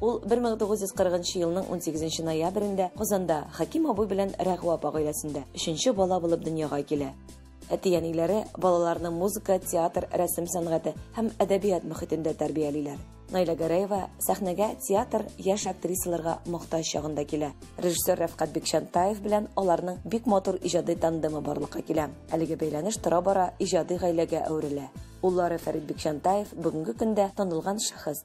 Ул 1940 елның 18 ноябрендә Казанда Хәким абый белән Рәгъва апа гаиләсендә өченче бала булып дөньяга килә. Әти-әниләре балаларны музыка, театр, рәсем сәнгате һәм әдәбият мөхитендә тәрбиялиләр. Наилә Гәрәева сәхнәгә театр яшь актрисаларга мохтаҗ чагында килә. Режиссер Рәфкать Бикчантаев белән аларның бик матур иҗади тандемы барлыкка килә. Әлеге бәйләнеш тора-бара иҗади гаиләгә әверелә. Уллары Фәрит Бикчантаев бүгенге көндә танылган шәхес.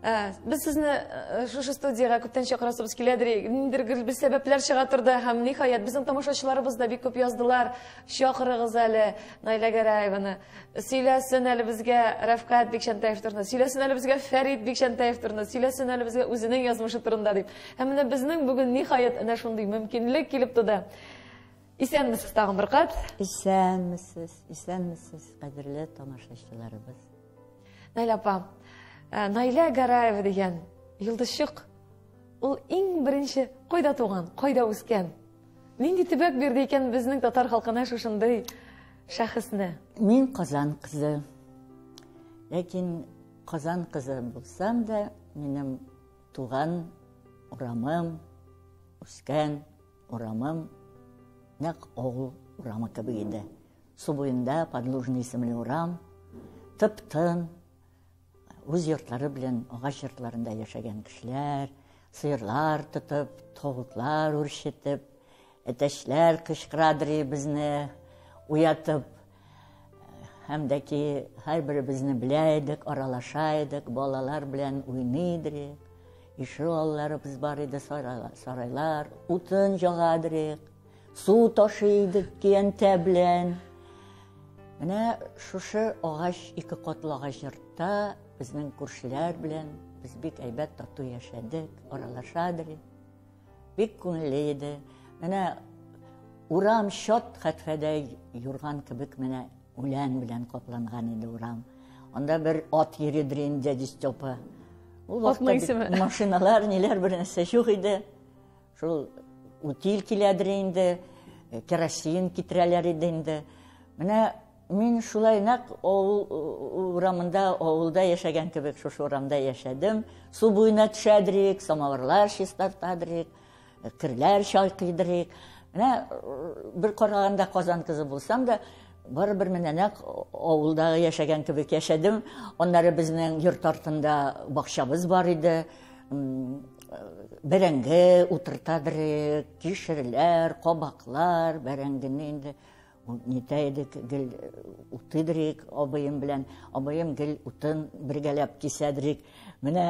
Ә, без сезне э, шушы студияга күптән чакырасыбыз килә дирек. Ниндер бер сәбәпләр чыга торды һәм ниһаять безнең тамашачыларыбыз да бик күп яздылар. Чакырыгыз әле Наилә Гәрәеваны. Сөйләсен әле безгә Рәфкат Бикчәнтәев турында. Сөйләсен әле безгә Фәрид Бикчәнтәев турында. Сөйләсен әле безгә үзенең язмышы турында дип. Һәм менә безнең бүген ниһаять әнә шундый мөмкинлек килеп туды. Исәнмесез тагын бер кат. Исәнмесез, исәнмесез, кадерле тамашачыларыбыз. Наилә апа, э, Наилә Гараева дигән йолдызчык, ул иң беренче кайда туган, кайда үскән? Нинди төбәк бирде икән безнең татар халкына шушындый шәхесне? Мин Казан кызы. Ләкин Казан кызы булсам да, минем туган урамым, үскән урамым нәкъ авыл урамы кебек иде. Су буенда Подлужный исемле урам, тып-тын, үз йортлары белән агач йортларында яшәгән кешеләр, сыерлар тотып, тавыклар үрчетеп, әтәчләр кычкырадырый безне уятып, һәм дә ки һәрберебезне белә идек, аралаша идек, балалар белән уйный идек. Ишегалларыбыз бар иде, сарайлар, утын җагадырык. Су ташый идек көянтә белән. Менә шушы агач, ике катлы агач йортта безнең күршеләр белән без бик әйбәт тату яшәдек, аралашадык. Бик күңелле иде. Менә урам чат хәтфәдәй юрган кебек менә үлән белән капланган иде урам. Анда бер ат йөридер инде дядя Степа. Ул вакытта машиналар, ниләр бер нәрсә юк иде. Шул утиль киләдер инде, э, керосин китерәләр иде инде. Менә мин шулай нәкъ авыл э, урамында, авылда яшәгән кебек шушы урамда яшәдем. Су буена төшәдер идек, самавырлар чистартадыр идек, э, керләр чайкыйдыр идек. Менә бер караганда Казан кызы булсам да, барыбер менә нәкъ авылда яшәгән кебек яшәдем. Аннары безнең йорт артында бакчабыз бар иде. Бәрәңге утырта бере, кишерләр, кабаклар, бәрәңгене инде нитә идек, гел уты берек абыем белән. Абыем гел утын бергәләп кисә берек. Менә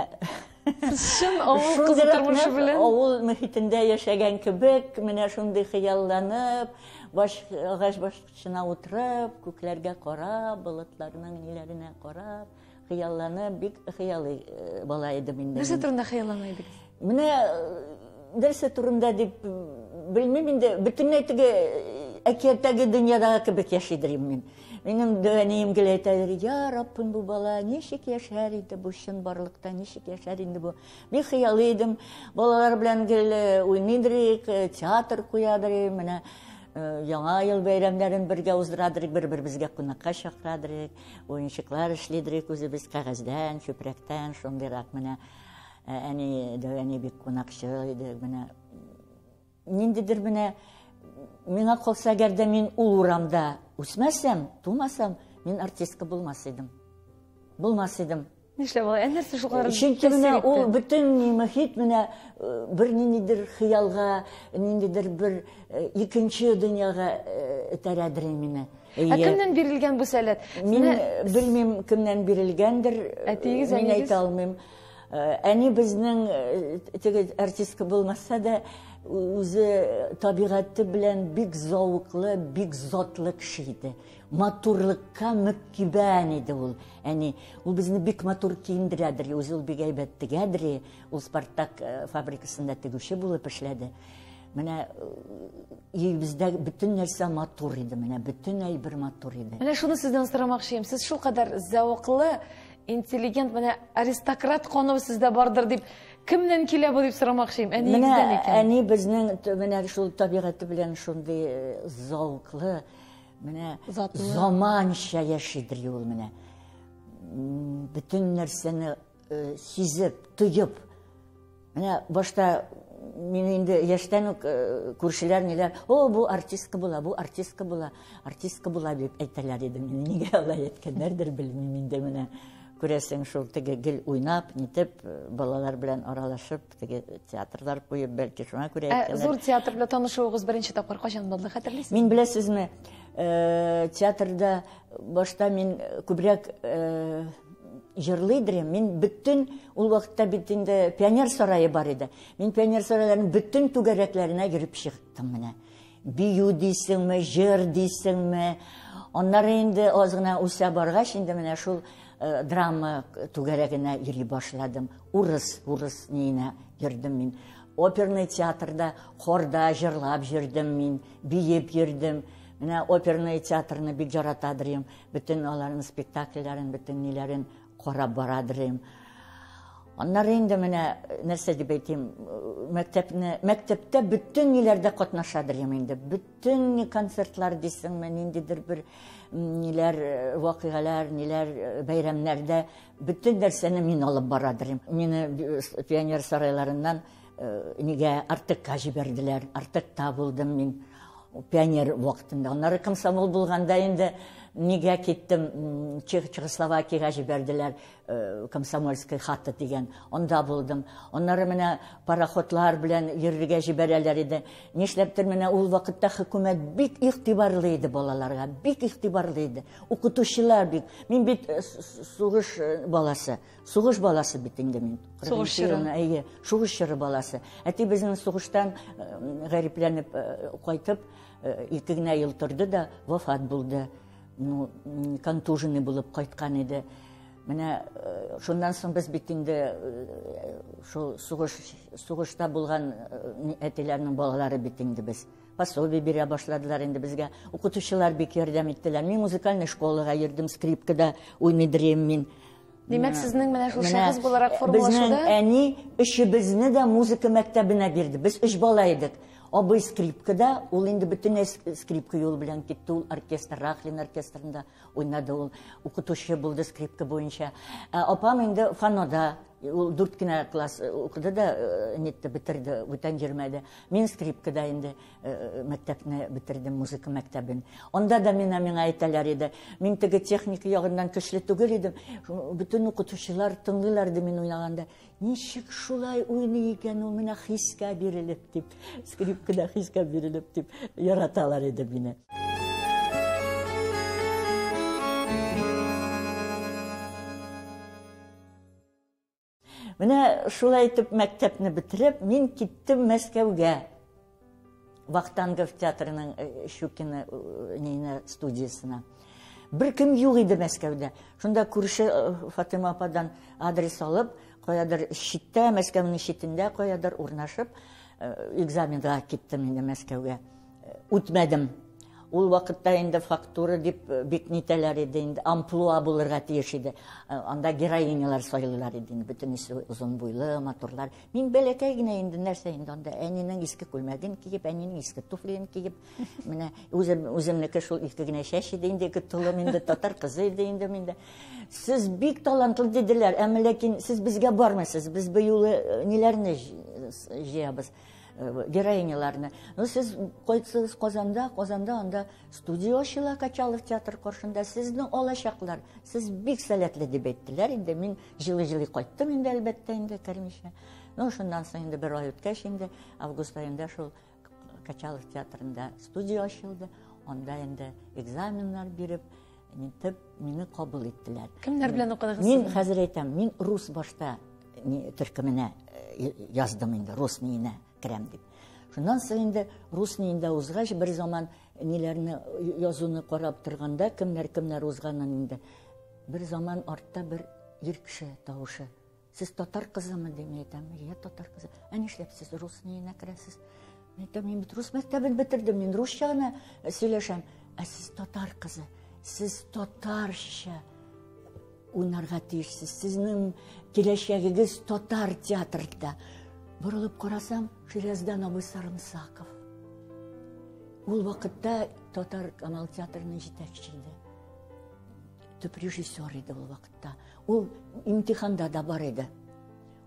Чын авыл кызы тормышы белән. Авыл мөхитендә яшәгән кебек, менә шундый хыялланып, баш агач башына утырып, күкләргә карап, болытларның ниләренә карап, Хыяллана бик хыялый э, бала идем инде. Нәрсә турында хыяллана идегез? Менә нәрсә э, турында дип белмим инде, бөтенләй теге э, әкияттәге дөньядагы кебек яшидер мин. Минем дәнием гел әйтәдер, я Раббым бу бала ничек яшәр иде бу чын барлыкта, ничек яшәр инде бу. Бик хыялый идем, балалар белән гел уйныйдыр идек, театр куядыр идек, менә яңа ел бәйрәмнәрен бергә уздырадыр идек, бер-беребезгә кунакка чакырадыр идек. Уенчыклар эшлидерик үзебез кәгазьдән, чүпрәктән, шундыйрак менә ә, әни дәвәни бик кунакчы иде. Менә ниндидер менә миңа калса, әгәр дә мин ул урамда үсмәсәм, тумасам, мин артистка булмас идем. Булмас идем. Нишләп алай? Ә нәрсә шул кадәр? Чөнки менә ул бөтен мөхит менә э, бер ниндидер хыялга, ниндидер бер э, икенче дөньяга этәрәдер э, мине. Ә кемнән бирелгән бу сәләт? Мин белмим, кемнән бирелгәндер. Әтиегез, әнигез? Мин әйтә алмыйм. Әни безнең теге артистка булмаса да, үзе табигате белән бик зауыклы, бик затлы кеше иде. Матурлыкка мөккибән иде ул. Әни, ул безне бик матур киендерәдер, үзе ул бик әйбәт тегәдер. Ул Спартак э, фабрикасында тегүче булып эшләде. Менә э, өебездә бөтен нәрсә матур иде, менә бөтен әйбер матур иде. Менә шуны сездән сорамакчыйм. Сез шул кадәр зәвыклы, интеллигент, менә аристократ кану сездә бардыр дип кемнән килә бу дип сорамакчыйм. Әниегездән икән. Әни безнең менә шул табигате белән шундый э, зәвыклы, Менә заманча яши дри ул менә. Бүтән нәрсәне э, сизеп, тоеп. Менә башта мин инде яшьтән үк э, күршеләр ниләр, "О, бу артистка була, бу артистка була, артистка була" дип әйтәләр иде. Мин нигә алай әйткәннәрдер белмим инде менә. Күрәсең, шул теге гел уйнап, нитеп, э, балалар белән аралашып, Теге театрлар куеп, бәлки шуңа күрә Ә әйткәннәр. зур театр белән танышуыгыз беренче тапкыр кайчан булды, хәтерлисезме? Мин беләсезме, э, театрда башта мин күбрәк э, җырлый идем. Мин бөтен ул вакытта бит инде пионер сарае бар иде. Мин пионер сарайларының бөтен түгәрәкләренә йөреп чыктым менә. бию дисеңме, җыр дисеңме. Аннары инде аз гына үсә баргач, инде менә шул э, драма түгәрәгенә йөри башладым. Урыс, урыс ниенә йөрдем мин. Оперный театрда, хорда җырлап йөрдем мин, биеп йөрдем. Менә оперный театрны бик яратадырым. Бөтен аларның спектакльләрен, бөтен ниләрен Карап бара дирем. Аннары инде менә нәрсә дип әйтим, мәктәпне, мәктәптә бөтен ниләрдә катнаша дирем инде. Бөтен ни концертлар дисеңме, ниндидер бер ниләр э, вакыйгалар, ниләр э, бәйрәмнәрдә бөтен нәрсәне мин алып бара дирем. Мине э, пионер сарайларыннан Э, нигә артыкка җибәрделәр артыкта булдым мин пионер вакытында аннары комсомол булганда инде нигә киттем чехословакияга җибәрделәр э, комсомольский хата дигән анда булдым аннары менә пароходлар белән йөрергә җибәрәләр иде нишләптер менә ул вакытта хөкүмәт бик игътибарлы иде балаларга бик игътибарлы иде укытучылар бик мин бит э, сугыш баласы Сугыш баласы бит инде мин. Сугыш чоры. Әйе, сугыш чоры баласы. Әти безнең сугыштан э, гарипләнеп э, кайтып, э, ике генә ел торды да вафат булды. Ну, контуженный булып кайткан иде. Менә шуннан соң без бит инде шул сугыш сугышта булган әтиләрнең балалары бит инде без. Пособие бирә башладылар инде безгә. Укытучылар бик ярдәм иттеләр. Мин музыкальный школага йөрдем, скрипкада уйный дирем мин. Димәк, сезнең менә шул шәхес буларак формалашуда... Безнең әни өчебезне дә музыка мәктәбенә бирде. Без өч бала идек. Абый скрипкада, ул инде бөтен скрипка юл белән китте, ул оркестр, Рахлин оркестрында уйнады, ул укытучы булды скрипка буенча. Ә апам инде фанода, ул дүрт кенә класс э, укыды да, э, нетте, бетерде, бүтән йөрмәде. Мин скрипкада инде. мәктәпне бетердем, музыка мәктәбен. Анда да мина миңа әйтәләр иде. Мин теге техника ягыннан көчле түгел идем. Бөтен укытучылар тыңлыйлар иде мин уйнаганда. Ничек шулай уйный икән ул менә хискә бирелеп дип, скрипкада хискә бирелеп дип яраталар иде мине. Менә шулай итеп мәктәпне бетереп, мин киттем Мәскәүгә. Вахтангов театрының э, Щукина э, нейне студиясына. Бер кем юк иде Мәскәүдә. Шунда күрше э, Фатыма ападан адрес алып, каядыр читтә, Мәскәүнең читендә каядыр урнашып, экзаменга киттем инде Мәскәүгә. үтмәдем ул вакытта инде фактура дип э, бик нитәләр иде инде амплуа булырга тиеш иде э, анда героинялар сайлыйлар иде инде бөтенесе озын буйлы матурлар мин бәләкәй генә инде нәрсә инде анда әнинең иске күлмәген киеп әнинең иске туфлиен киеп менә үзем үземнеке шул ике генә чәч иде инде ике толым инде татар кызы иде инде миндә сез бик талантлы диделәр әмма ләкин сез безгә бармыйсыз без быюлы э, ниләрне җыябыз Э, героиняларны ну сез кайтсагыз казанда казанда анда студия ачыла качалов театр каршында сезне алачаклар сез бик сәләтле дип әйттеләр инде мин җылы җылы кайттым инде әлбәттә инде кермичә ну шуннан соң инде бер ай үткәч инде август аенда шул качалов театрында студия ачылды анда инде экзаменнар биреп Итеп, мине кабул иттеләр. Кемнәр белән укыдыгыз? Мин хәзер әйтәм, мин рус башта төркеменә э, яздым инде, рус миенә керәм дип. Шуннан соң инде рус миендә узгач, бер заман ниләрне язуны карап торганда, кемнәр кемнәр узганын инде. Бер заман артта бер ир кеше тавышы Сез татар кызымы дим, мин әйтәм, я татар кызы. Ә нишләп сез рус ниенә керәсез? Мин әйтәм, мин бит рус мәктәбен бетердем, мин русча гына э, сөйләшәм. Ә сез татар кызы, сез татарча уйнарга тиешсез. Сезнең киләчәгегез татар театрында. Борылып карасам, Ширяздан абый Сарымсаков. Ул вакытта татар Камал театрының җитәкчесе иде. Төп режиссер иде ул вакытта. Ул имтиханда да бар иде.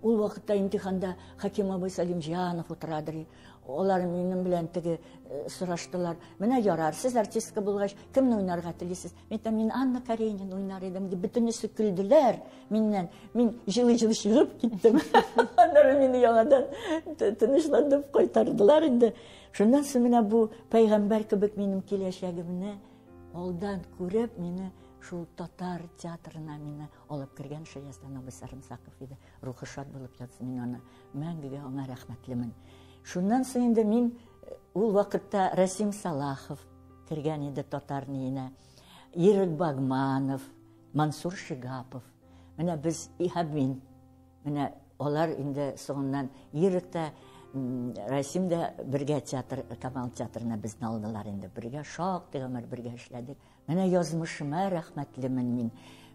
Ул вакытта имтиханда Хаким абый Салимҗанов утырадыр. Алар минем белән теге э, сораштылар. Менә ярар, сез артистка булгач, кемне уйнарга телисез? Мин әйтәм, мин Анна Каренина уйнар идем дип бөтенесе көлделәр миннән. Мин җылы-җылы чыгып киттем. Аннары мине яңадан тынычландырып кайтардылар инде. Шуннан соң менә бу пәйгамбәр кебек минем киләчәгемне Алдан күреп, мине шул татар театрына мине алып кергән Шаястан абый Сарымсаков иде. Рухы шат булып ятсын, мин аны мәңгегә аңа рәхмәтлемен. Шуннан соң инде мин э, ул вакытта Расим Салахов кергән иде татар ниенә. Ирек Багманов, Мансур Шигапов. Менә без и һәм мин Менә алар инде соңыннан Ирек тә, Расим дә бергә театр, Камал театрына безне алдылар инде. Бергә шактый гомер бергә эшләдек. Менә язмышыма рәхмәтлемен мин.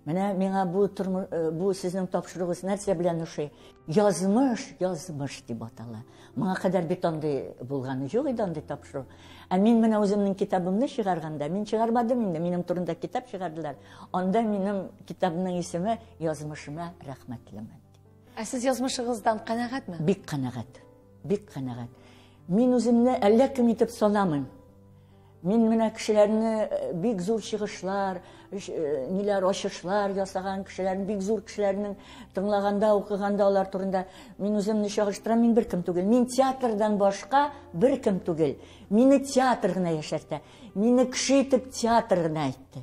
Менә миңа бу тормыш, э, бу сезнең тапшыруыгыз нәрсә белән ошый? Язмыш, язмыш дип атала. Моңа кадәр бит андый булганы юк иде андый тапшыру. Ә мин менә үземнең китабымны чыгарганда, мин чыгармадым инде, минем турында китап чыгардылар. Анда минем китабымның исеме Язмышыма рәхмәтлемен. Ә сез язмышыгыздан канәгатьме? Бик канәгать. Бик канәгать. Мин үземне әллә кем итеп санамыйм. Мин менә кешеләрне э, бик зур чыгышлар, э, ниләр ачышлар ясаган кешеләрне, бик зур кешеләрнең тыңлаганда, укыганда алар турында мин үземне чагыштырам, мин беркем түгел. Мин театрдан башка беркем түгел. Мине театр гына яшәртә. Мине кеше итеп театр гына әйтте.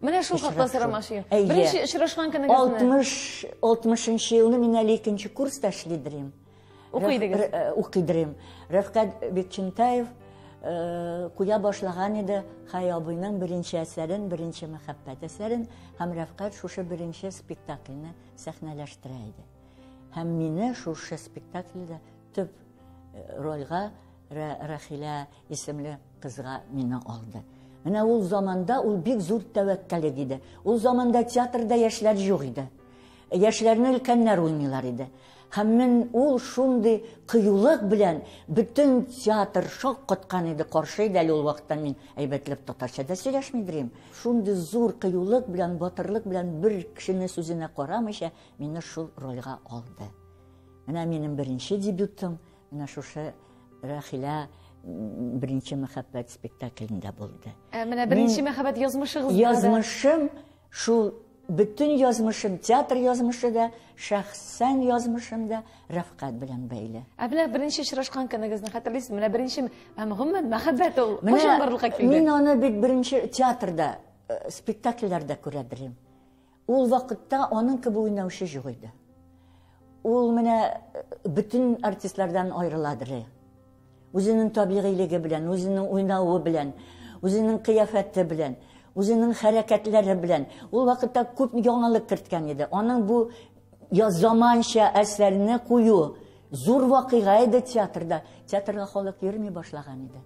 Менә шул хакта сорамакчы идем. Беренче очрашкан көнегезне. 60 60 елны мин әле икенче курста эшли дирем. Укыйдыгыз. Э, укый дирем. Рәфкат Бекчентаев э, куя башлаган иде Хай абыйның беренче әсәрен, беренче мәхәббәт әсәрен һәм Рәфкат шушы беренче спектакльне сәхнәләштерә иде. Һәм мине шушы спектакльдә төп э, рольга Рахилә исемле Кызга мине алды. Менә ул заманда ул бик зур тәвәккәлек иде. Ул заманда театрда яшьләр юк иде. Яшьләрне өлкәннәр уйныйлар иде. Һәм мин ул шундый кыюлык белән бөтен театр шок коткан иде, каршы иде әле ул вакытта мин әйбәтләп татарча да сөйләшми дирем. Шундый зур кыюлык белән, батырлык белән бер кешене сүзенә карамыйча мине шул рольга алды. Менә минем беренче дебютым, Менә шушы Рәхилә беренче мәхәббәт спектаклендә булды. Ә менә беренче мәхәббәт язмышыгызда. Язмышым шул бөтен язмышым, театр язмышы да, шәхсән язмышым да Рәфкать белән бәйле. Ә менә беренче очрашкан көнегезне хәтерлисезме? Менә беренче һәм гомумән мәхәббәт ул кайчан барлыкка килде? Мин аны бит беренче театрда, э, спектакльләрдә күрә белем. Ул вакытта аның кеби уйнаучы җук иде. Ул менә бөтен артистлардан аерыладыр. Үзенең табигыйлеге белән, үзенең уйнавы белән, үзенең кыяфәте белән, үзенең хәрәкәтләре белән. Ул вакытта күп яңалык керткән иде. Аның бу я заманча әсәрне кую зур вакыйга иде театрда. Театрга халык йөрми башлаган иде.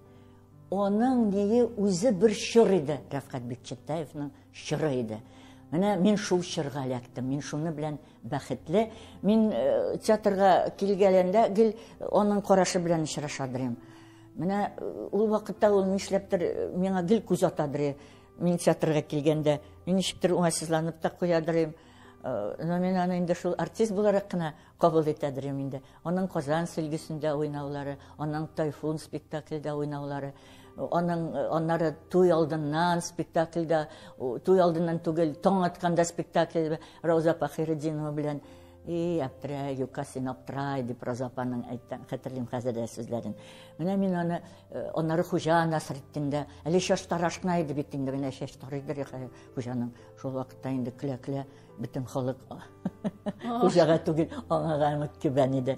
Аның ние үзе бер чор иде, Рәфкать Бикчәттаевның чоры иде. Менә мин шул чорга эләктем, мин шуны белән бәхетле. Мин э, театрга килгәләндә гел аның карашы белән очраша дирем. Менә э, ул вакытта ул нишләптер э, миңа гел күз ата дире. Мин театрга килгәндә, мин ничектер уңайсызланып та куя дирем. Но мин аны инде шул артист буларак кына Кабул итәдер ем инде. Аның Казан сөлгесендә уйнаулары, аның Тайфун спектакльдә уйнаулары, аның аннары туй алдыннан спектакльдә, туй алдыннан түгел, таң атканда спектакль Рауза Пахиретдинова белән И, аптра, юка син аптра, и дип Роза апаның әйткән, хәтерлим хәзер дә сүзләрен. Менә мин аны э, аннары хуҗа насыр иттендә, әле шаш тарашкына иде бит инде менә шаш тарыйдыр хуҗаның. Шул вакытта инде көлә-көлә Бөтен халык хуҗага түгел, аңа гына кибән иде.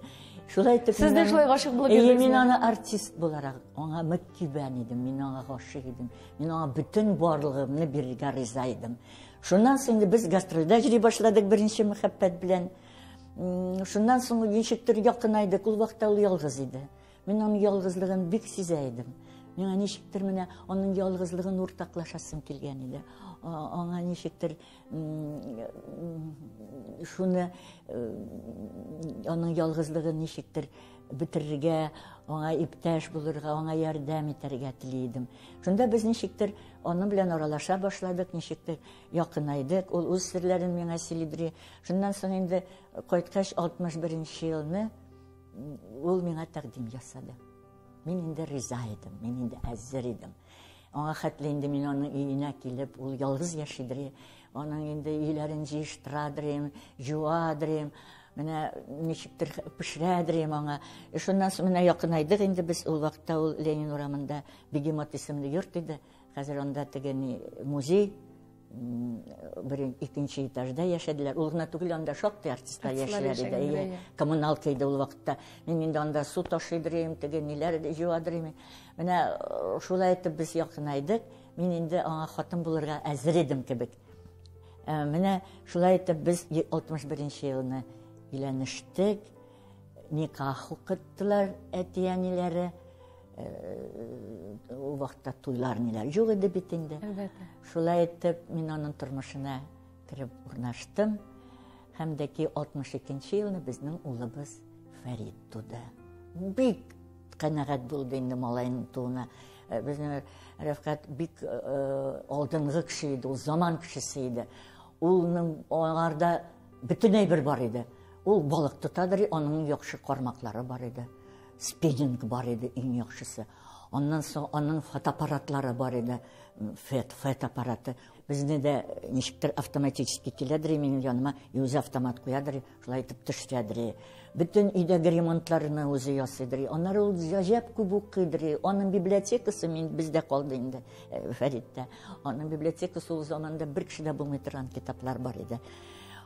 Шулай итеп Сез дә шулай гашык булып йөрдегезме? Мин аны артист буларак аңа мөк кибән идем, мин аңа гашык идем. Мин аңа бөтен барлыгымны бирергә риза идем. Шуннан соң без гастрольдә йөри башладык беренче мәхәббәт белән. Шуннан соң ничектер якынайдык, ул вакытта ул ялгыз иде. Мин аның ялгызлыгын бик сизә идем. Миңа ничектер менә аның ялгызлыгын уртаклашасым килгән иде. Аңа ничектер шуны аның ялгызлыгын ничектер бетерергә аңа иптәш булырга аңа ярдәм итәргә тели идем шунда без ничектер аның белән аралаша башладык ничектер якынайдык ул үз серләрен миңа сөйлидри шуннан соң инде кайткач алтмыш беренче елны ул миңа тәкъдим ясады мин инде риза идем мин инде әзер идем Аңа хәтле инде мин аның өенә килеп, ул ялгыз яшидер. Аның инде өйләрен җыештырадыр, җуадыр. Менә ничектер пешерәдер аңа. Э, шуннан соң менә якынайдык инде без ул вакытта ул Ленин урамында Бегемот исемле йорт иде. Хәзер анда теге музей бер икенче этажда яшәделәр ул гына түгел анда шактый артистлар яшиләр иде әйе коммуналка иде ул вакытта мин инде анда су ташыйдыр идем теге ниләр җуадыр идем менә э, шулай итеп без якынайдык мин инде аңа хатын булырга әзер идем кебек э, менә шулай итеп без алтмыш беренче елны өйләнештек никах укыттылар әти әниләре Ул вакытта туйлар ниләр юк иде бит инде. Әлбәттә. Шулай итеп, мин аның тормышына кереп урнаштым. Һәм дә ки 62-нче елны безнең улыбыз Фәрид туды. Бик канәгать булды инде малайның тууына. Э, Безнең Рәфкат бик э, э, алдынгы кеше иде, ул заман кешесе иде. Улның аңарда бөтенләй бер бар иде. Ул балык тотадыр, аның яхшы кармаклары бар иде. Спиннинг бар иде иң яхшысы. Аннан соң аның фотоаппаратлары бар иде. Фет, фет аппараты. Безне дә ничектер автоматически киләдер минем яныма, и үзе автомат куядыр, шулай итеп төшәдер. Бөтен өйдәге ремонтларны үзе ясыйдыр. Аннары ул гаҗәп күп укыйдыр. Аның библиотекасы мин бездә калды инде э, Фәриттә. Аның библиотекасы ул заманда бер кешедә булмый торган китаплар бар иде.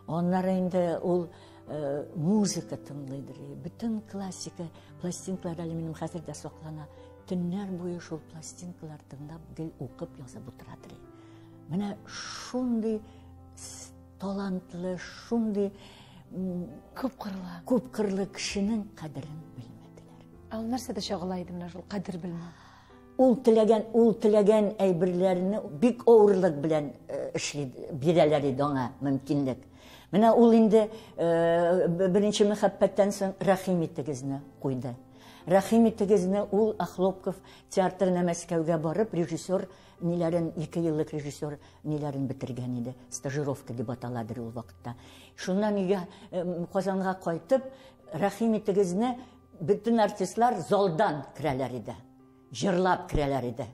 Аннары инде ул Э, музыка тыңлый дери бөтен классика пластинкалар әле минем хәзер дә саклана төннәр буе шул пластинкалар тыңлап гел укып язып утыра дери менә шундый талантлы шундый күп кырлы күп кырлы кешенең кадерен белмәделәр ә ул нәрсәдә чагыла иде менә шул кадер белмәү Ул теләгән, ул теләгән әйберләрне бик авырлык белән эшли, бирәләр иде аңа мөмкинлек. Менә ул инде беренче мәхәббәттән соң Рәхим итегезне куйды. Рәхим итегезне ул Ахлопков театрына Мәскәүгә барып, режиссер ниләрен, ике еллык режиссер ниләрен бетергән иде. Стажировка дип аталадыр ул вакытта. Шуннан өйгә Казанга кайтып, Рәхим итегезне Бөтен артистлар залдан керәләр иде. Җырлап керәләр иде.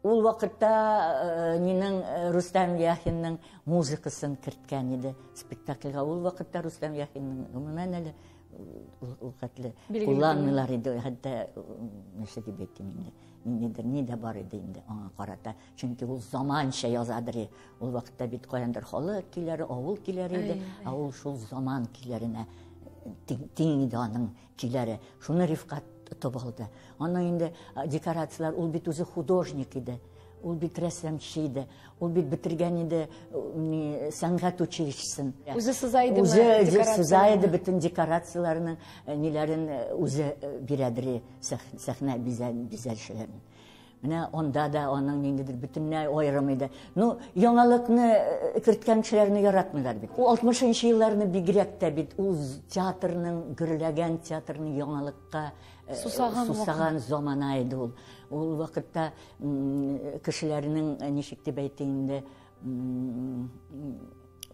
Ул вакытта э, минең э, Рустам Яхинның музыкасын керткән иде спектакльгә. Ул вакытта Рустам Яхинның гомумән әле ул хәтле кулланмыйлар иде. Хәтта нәрсә дип әйтим инде. Ниндидер ни дә бар иде инде аңа карата. Чөнки ул заманча яза бери. Ул вакытта бит каяндыр халык киләре, авыл киләре иде. Ә ул шул заман киләренә тиң иде аның киләре. Шуны Рифкат тотып алды. Аны инде декорацияләр, ул бит үзе художник иде. Ул бит рәсәмче иде. Ул бит бетергән иде не сәнгать училищесын. Үзе сыза иде. Үзе сыза иде бөтен декорацияләрнең ниләрен үзе бирәдри сәхнә бизәлешләрен. Менә анда да аның ниндидер бөтенләй аерым иде. Ну, яңалыкны э, керткән кешеләрне яратмыйлар бит. Ул 60 елларны бигрәк тә бит ул театрның гөрләгән театрның яңалыкка э, сусаган, сусаган замана иде ул. Ул вакытта кешеләрнең э, ничек дип әйтим инде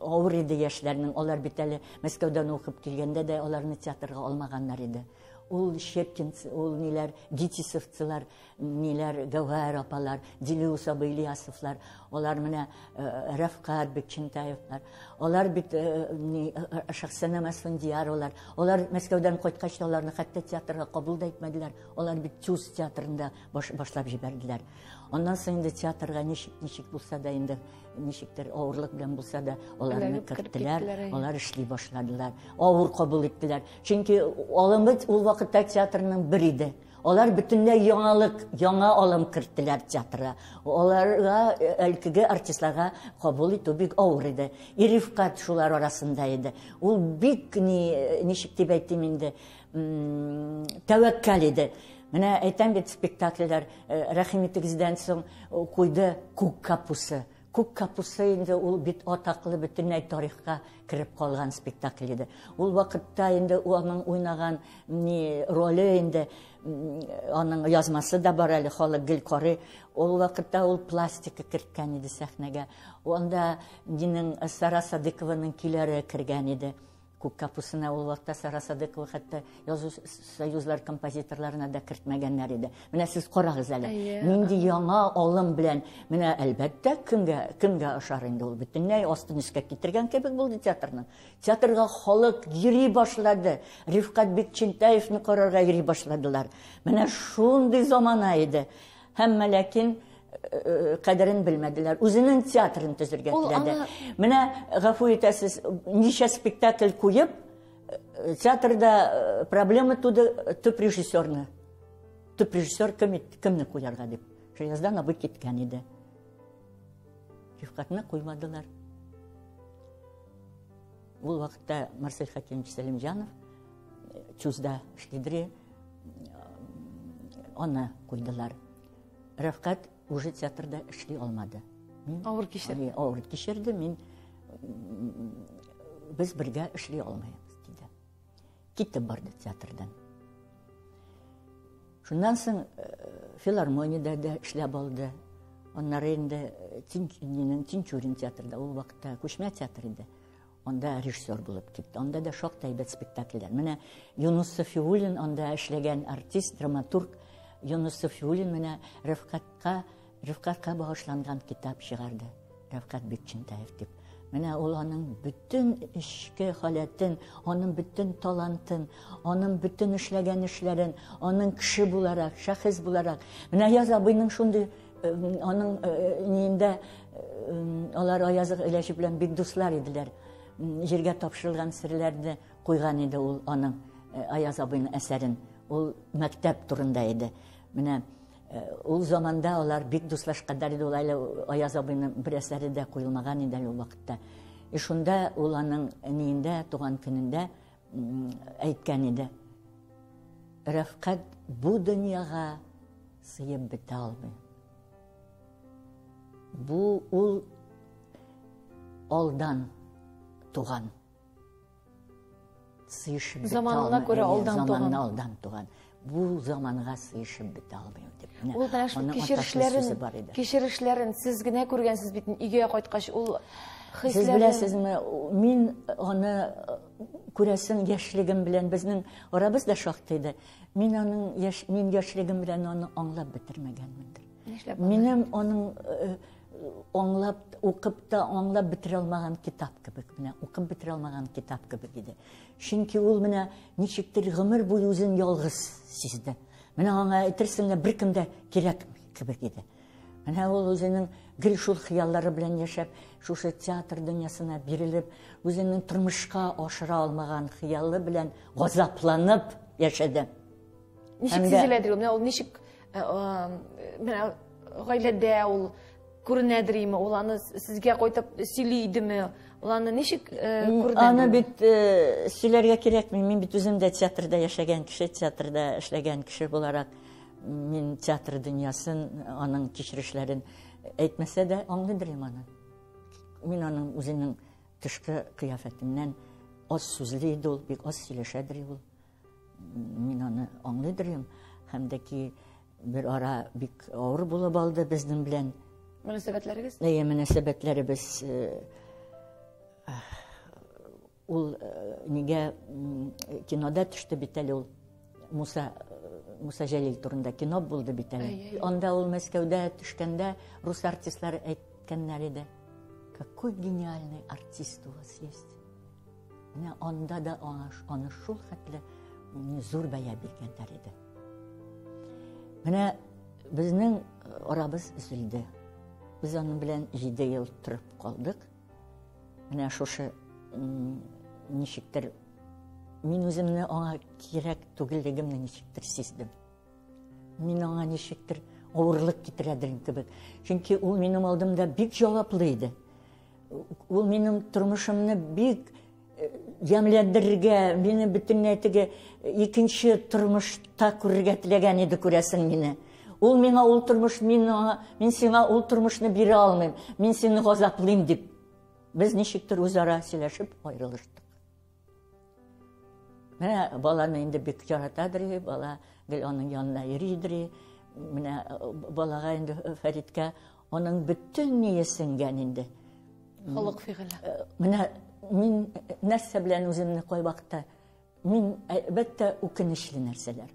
авыр иде яшьләрнең. Алар бит әле Мәскәүдән укып килгәндә дә аларны театрга алмаганнар иде. Ул Щепкинцы, ул ниләр, Дитисовцылар Ниләр, Гәүһәр апалар, Дилүс абый Ильясовлар, алар менә э, Рәфкат бит Чинтаевлар, алар бит э, э, Шахсана Мәсфендияр алар, алар Мәскәүдән кайткач та аларны хәтта театрга кабул да итмәделәр, алар бит Чус театрында баш, башлап җибәрделәр. Аннан соң инде театрга ничек, ничек булса да инде, ничектер авырлык белән булса да аларны керттеләр, алар эшли башладылар, авыр кабул иттеләр. Чөнки алымбыз ул вакытта театрның бер иде. Алар бөтенләй яңалык, яңа алым керттеләр театрга. Аларга, э, әлкеге артистларга кабул итү бик авыр иде. Ирифкат шулар арасында иде. Ул бик ни, э, ничек дип әйтим инде, тәвәккәл иде. Менә әйтәм бит, спектакльләр э, Рәхим итегездән соң куйды Күк капусы. Күк капуста инде ул бит атаклы бөтенләй тарихка кереп калган спектакль иде. Ул вакытта инде аның уйнаган ни роле инде аның язмасы да бар әле халык гел карый. Ул вакытта ул пластика керткән иде сәхнәгә. Анда Динең Сара Садыкованың көйләре кергән иде. Күк капусына ул вакытта Сара Садыкова хәтта язу союзлар композиторларына да кертмәгәннәр иде. Менә сез карагыз әле. Нинди яңа алым белән, менә әлбәттә, кемгә кемгә ошар инде ул бөтенләй астын өскә китергән кебек булды театрның. Театрга халык йөри башлады. Рифкат Бекчентаевны карарга йөри башладылар. Менә шундый замана иде. Һәммә ләкин кадерен белмәделәр. Үзенең театрын төзергә теләде. Менә гафу итәсез, ничә спектакль куеп, театрда проблема туды төп режиссерны. Төп режиссер кем, кемне куярга дип. Шаяздан абый киткән иде. Рифкатны куймадылар. Ул вакытта Марсель Хәкимович Сәлимҗанов э, чузда шкидри аны куйдылар. Рәфкать уже театрда эшли алмады. Мин авыр кичерде. Авыр кичерде. Мин без бергә эшли алмыйбыз диде. Китеп барды театрдан. Шуннан соң э, филармониядә дә эшләп алды. Аннары инде э, Тинчурин, Тинчурин театрда ул вакытта күчмә театр иде. Анда режиссер булып китте. Анда да шактый әйбәт спектакльләр. Менә Юнус Софиуллин анда эшләгән артист, драматург Юнус Софиуллин менә Рәфкатка Рифкатька багышланган китап чыгарды Рәфкать Бикчентаев дип. Менә ул аның бөтен эчке халәтен, аның бөтен талантын, аның бөтен эшләгән эшләрен, аның кеше буларак, шәхес буларак. Менә Аяз абыйның шундый аның ниендә алар Аяз Ильяшев белән бик дуслар иделәр. Җиргә тапшырылган серләрне куйган иде ул аның Аяз абыйның әсәрен. Ул мәктәп турында иде. Менә Э, ул заманда алар бик дуслашканнар иде ул әле аяз абыйның бер әсәре дә куелмаган иде әле ул вакытта и шунда ул аның ниендә туган көнендә әйткән иде рәфкать бу дөньяга сыеп бетә алмый бу ул алдан туган сыйышып бетә заманына күрә алдан туган алдан туган бу заманга сыйышып бетә алмыйм дип ул менә шул кичерешләрен кичерешләрен сез генә күргәнсез бит өйгә кайткач ул хисләрен сез беләсезме мин аны күрәсең яшьлегем белән безнең арабыз да шактый иде мин аның яшь мин яшьлегем белән аны аңлап бетермәгәнмендер Нишләп? Минем аның э, аңлап, укып та аңлап бетерә алмаган китап кебек, менә укып бетерә алмаган китап кебек иде. Чөнки ул менә ничектер гомер буе үзен ялгыз сизде. Менә аңа әйтерсең лә беркем дә кирәкми кебек иде. Менә ул үзенең гел шул хыяллары белән яшәп, шушы театр дөньясына бирелеп, үзенең тормышка ашыра алмаган хыялы белән газапланып яшәде. Ничек сизеләдер ул? Менә ул ничек э, менә гаиләдә ул күренәдер име? Ул аны сезгә кайтып сөйли идеме? Ул аны ничек э, күренәдер? Аны бит э, сөйләргә кирәкми. Мин бит үзем дә театрда яшәгән кеше, театрда эшләгән кеше буларак мин театр дөньясын, аның кичерешләрен әйтмәсә дә аңлыйдыр инде аны. Мин аның үзенең тышкы кыяфәтеннән аз сүзле иде ул, бик аз сөйләшәдер ул. Мин аны аңлый дөрим, һәм дә ки бер ара бик авыр булып алды безнең белән. Мөнәсәбәтләрегез? Әйе, мөнәсәбәтләребез ул нигә кинода төште бит әле ул Муса Муса Җәлил турында кино булды бит әле. Анда ул Мәскәүдә төшкәндә рус артистлары әйткәннәр иде. Какой гениальный артист у вас есть. Менә анда да аңа аны шул хәтле зур бәя биргәннәр иде. Менә безнең э, арабыз үзелде. Без аның белән 7 ел торып калдык. Менә шушы ничектер мин үземне аңа кирәк түгеллегемне ничектер сиздем. Мин аңа ничектер авырлык китерәдер кебек. Чөнки ул минем алдымда бик җаваплы иде. Ул минем тормышымны бик э, ямьләндерергә, мине бөтенләй теге э, икенче тормышта күрергә теләгән иде күрәсең мине. Ул миңа ул тормыш, мин аңа, мин сиңа ул тормышны бирә алмыйм, мин сине газаплыйм дип. Без ничектер үзара сөйләшеп аерылыштык. Менә баланы инде бик яратадыр, бала гел аның янына йөридер. Менә э, балага инде э, Фәриткә аның бөтен ние сеңгән инде. Холык фигыле. Э, менә мин нәрсә белән үземне кай вакытта мин әлбәттә үкенечле нәрсәләр.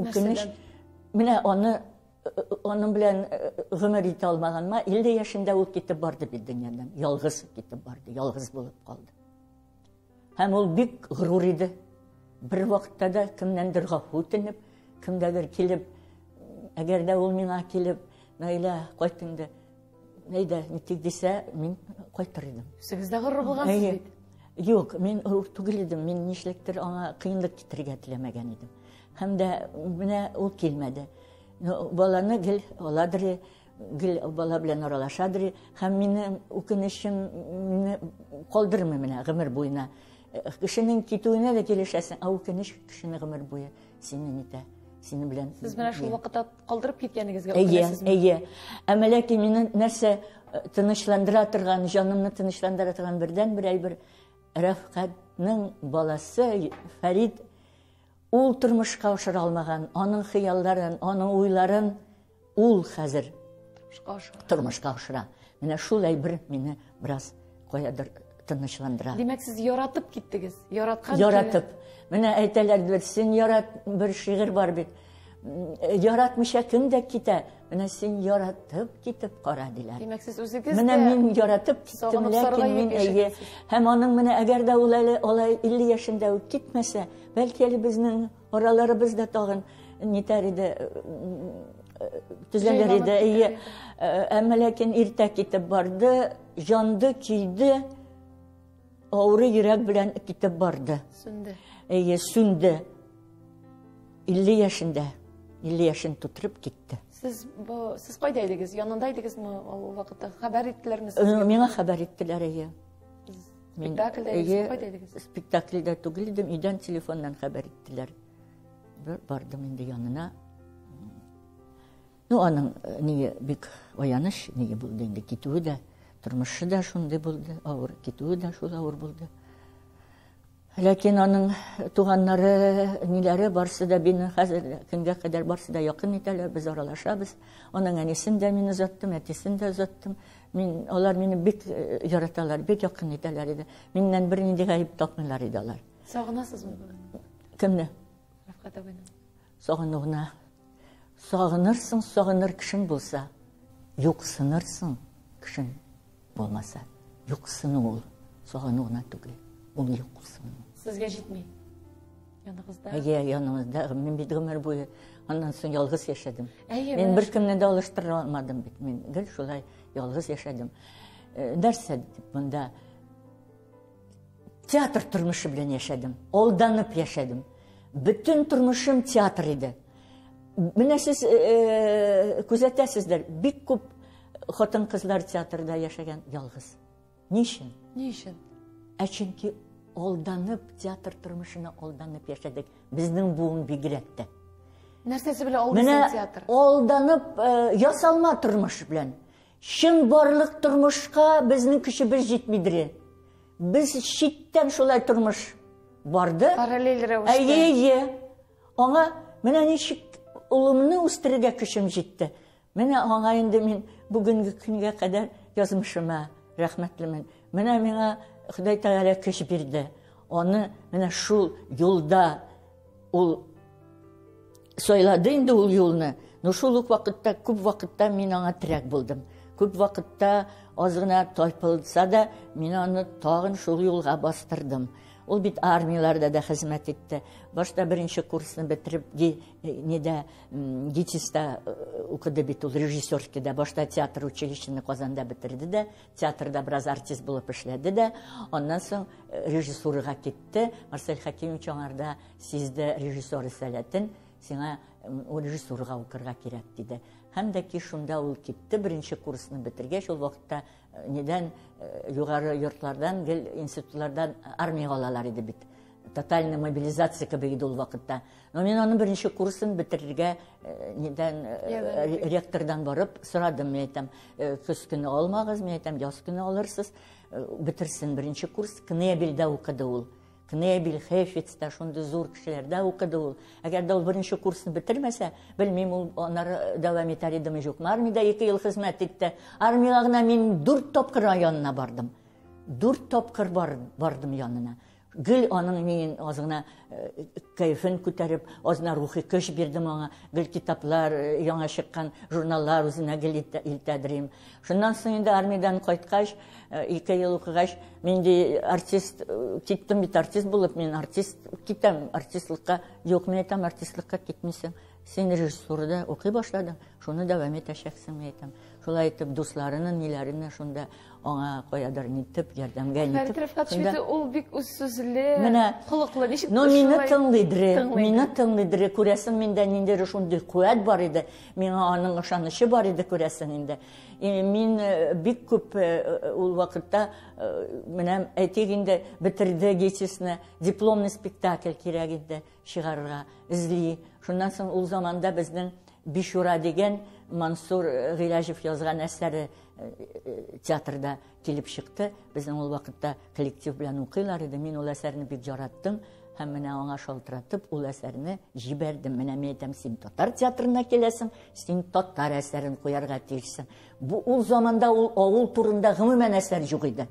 Үкенеч. Менә аны аның белән гомер итә алмаганыма 50 яшендә ул китеп барды бит дөньядан. Ялгыз китеп барды, ялгыз булып калды. Һәм ул бик горур иде. Бер вакытта да кемнәндер гафу үтенеп, кемгәдер килеп, әгәр дә ул миңа килеп, Наилә, кайт инде. Әйдә, нитик дисә, мин кайтыр идем. Сез дә горур булгансыз бит. Юк, мин горур түгел идем. Мин нишлектер аңа кыенлык китерергә теләмәгән идем. Һәм дә менә ул килмәде. Ну, баланы гел аладыр, Гел бала белән аралаша дри һәм минем үкенечем мине калдырмый менә гомер буена. Э, кешенең китүенә дә килешәсең, ә үкенеч кешене гомер буе синен итә. Синең белән. Сез менә шул вакытта калдырып киткәнегезгә үкенәсезме? Әйе, әйе. Ә мәләки мине нәрсә э, тынычландыра торган, җанымны тынычландыра торган бердән бер әйбер Рәфкатның баласы Фәрид ул тормышка ашыра алмаган, аның хыялларын, аның уйларын Ул хәзер тормышка ашыра. Менә шул әйбер мине бераз каядыр тынычландыра. Димәк, сез яратып киттегез. Яраткан. Яратып. Менә әйтәләр бит, син ярат бер шигырь бар бит. Яратмыйча кем дә китә. Менә син яратып китеп кара диләр. Димәк, сез үзегез Менә мин яратып киттем, ләкин мин әйе. Һәм аның менә әгәр дә ул әле алай 50 яшендә үк китмәсә, бәлки әле безнең Араларыбыз да тагын нитәр иде, төзәлер иде. Әйе. Әмма ләкин иртә китеп барды, җанды көйде, авыры йөрәк белән китеп барды. Сүнде. Әйе, сүнде. 50 яшендә, 50 яшен тутырып китте. Сез бу сез кайда идегез? Янында идегезме ул вакытта? Хәбәр иттеләрме сезгә? Миңа хәбәр иттеләр, әйе. Спектакльдә идегез? Спектакльдә түгел идем, өйдән телефоннан хәбәр иттеләр. Бер бардым инде янына. Ну, аның э, ни бик аяныч ни булды инде китүе дә, тормышы да шундый булды, авыр китүе дә шул авыр булды. Ләкин аның туганнары, ниләре, барсы да бине хәзер көнгә кадәр барсы да якын итәләр, без аралашабыз. Аның әнисен дә мин озаттым, әтисен дә озаттым. Мин, алар мине бик э, яраталар, бик якын итәләр иде. Миннән бер нинди гаеп тапмыйлар иде алар. Сагынасызмы? Кемне? Рәфкат абыйны. Сагынуына. Сагынырсың, сагыныр кешең булса, юксынырсың кешең Булмаса, юксыну ул, сагыну гына түгел. Ул юксыну. Сезгә җитми. Яныгызда. Әйе, яныгызда. Мин бит гомер буе аннан соң ялгыз яшәдем. Әйе. Мин бер кемне дә алыштыра алмадым бит. Мин гел шулай ялгыз яшәдем. Нәрсә дип монда Театр тормышы белән яшәдем. Алданып яшәдем. Бөтен тормышым театр иде. Менә сез э, э, күзәтәсездер, бик күп хатын-кызлар театрда яшәгән ялгыз. Ни өчен? Ни өчен? Ә чөнки алданып театр тормышына алданып яшәдек. Безнең буын бигрәк тә. Нәрсәсе белән алдасың театр? Менә алданып э, ясалма тормыш белән. Чынбарлык тормышка безнең көчебез җитмидре? Без читтән шулай тормыш барды. Параллель рәвештә. Әйе, әйе. Аңа менә ничек улымны үстерергә көчем җитте. Менә аңа инде мин бүгенге көнгә кадәр язмышыма рәхмәтлемен. Менә миңа Ходай Тәгалә көч бирде. Аны менә шул юлда ул Сайлады инде ул юлны. Ну шул ук вакытта күп вакытта мин аңа терәк булдым. Күп вакытта аз гына тайпылса да, мин аны тагын шул юлга бастырдым. Ул бит армияләрдә дә хезмәт итте. Башта беренче курсны бетереп, э, нидә ГИТИСта э, укыды бит ул режиссерский да. Башта театр училищены Казанда бетерде дә, театрда бераз артист булып эшләде дә. Аннан соң э, режиссурага китте. Марсель Хәкимович аңарда Сиздә режиссер рисаләтен, сиңа режиссурга укырга кирәк, диде. Һәм дә ки шунда ул китте, беренче курсны бетергәч, ул вакытта э, нидән э, югары йортлардан, гел институтлардан армияга алалар иде бит. Тотальный мобилизация кебек иде ул вакытта. Но мин аның беренче курсын бетерергә э, нидән ректордан барып сорадым, мин әйтәм, көз көне алмагыз, мин әйтәм, яз көне алырсыз, бетерсен беренче курс, Кнебельдә укыды ул. Кнебель, Хефиц та шундый зур кешеләрдә укыды ул. Әгәр дә ул беренче курсны бетермәсә, белмим, ул аннары дәвам итәр идеме юкмы. Армиядә ике ел хезмәт итте. Армиягә генә мин дүрт тапкыр янына бардым. Дүрт тапкыр бар, бардым янына. Гел аның мин аз гына э, кәефен күтәреп, аз гына рухи көч бирдем аңа. Гел китаплар, э, яңа чыккан журналлар үзенә гел илтәдерим. Шуннан соң инде армиядән кайткач, ике ел укыгач, мин ди артист киттем бит, артист булып, мин артист китәм, артистлыкка. Юк, мин әйтәм, артистлыкка китмисең. Син режиссурада укый башладың, шуны дәвам итәчәксең, мин әйтәм. Шулай итеп, дусларының, ниләренә шунда аңа каядыр нитеп, ярдәмгә нитеп. Фәрит Рифкатович бит ул бик үз сүзле, холыклы, ничек шулай? Ну, мине тыңлый дре, мине тыңлый дре, күрәсең, миндә ниндидер шундый куәт бар иде. Миңа аның ышанычы бар иде, күрәсең инде. Мин э, бик күп э, э, ул вакытта, менә әйтик инде, бетерде гечесне, дипломный спектакль кирәк иде чыгарырга, эзли. Шуннан соң ул заманда безнең Бишура дигән Мансур Гыйләҗев язган әсәре театрда Килеп чыкты, безнең ул вакытта коллектив белән укыйлар иде, мин ул әсәрне бик яраттым һәм менә аңа шалтыратып ул әсәрне җибәрдем. Менә мин әйтәм, син татар театрына киләсең, син татар әсәрен куярга тиешсең. Бу ул заманда ул авыл турында гомумән әсәр юк иде.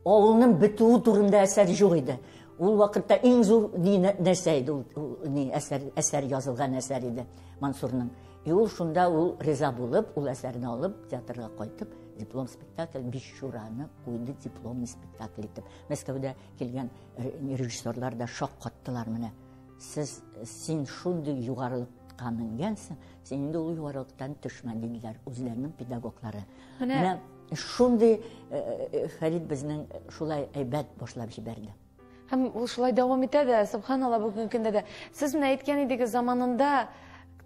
Авылның бетүе турында әсәр юк иде. Ул вакытта иң зур ни нәрсә иде ул, ни әсәр әсәр язылган әсәр иде Мансурның. И ул шунда ул риза булып, ул әсәрне алып театрга кайтып диплом спектакль бишчураны куйды дипломный спектакль итеп мәскәүдә килгән режиссерлар да шаккаттылар менә сез син шундый югарылыкка менгәнсең син инде ул югарылыктан төшмә диделәр үзләренең педагоглары менә шундый фәрит безнең шулай әйбәт башлап җибәрде һәм ул шулай дәвам итә дә субханалла бүгенге көндә дә сез менә әйткән идегез заманында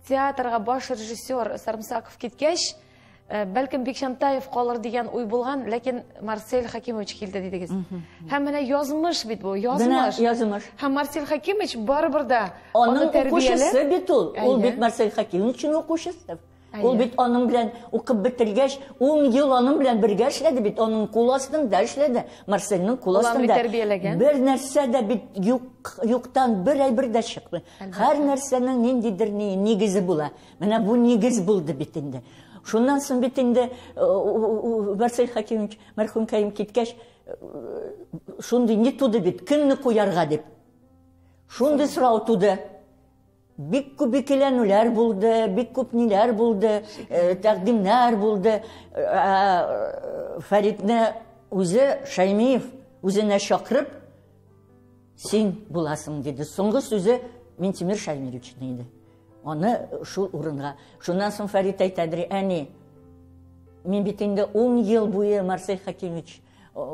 театрга баш режиссер сарымсаков киткәч Э, бәлкем бикчантаев калыр дигән уй булган ләкин марсель хакимович килде дидегез һәм менә язмыш бит бу язмыш язмыш һәм марсель хакимович барыбер да аны тәрбияле бит ул ул бит марсель хакимович өчен укучысы ул бит аның белән укып бетергәч ун ел аның белән бергә эшләде бит аның кул астында эшләде марсельның кул астында бер нәрсә дә бит юк юктан бер әйбер дә чыкмый һәр нәрсәнең ниндидер нигезе була Менә бу нигез булды бит инде. Шуннан соң бит инде э, Василий Хакимович мәрхүм Кәйим киткәч э, шундый не туды бит, кемне куярга дип. Шундый сорау туды. Бик күп икеләнүләр булды, бик күп ниләр булды, э, тәкъдимнәр булды. Фәридне үзе Шаймиев үзенә чакырып, син буласың диде. Соңгы сүзе Минтимир Шаймировичны иде. Аны шул урынга. Шуннан соң Фәрит әйтәдер, әни, мин бит инде ун ел буе Марсель Хәкимович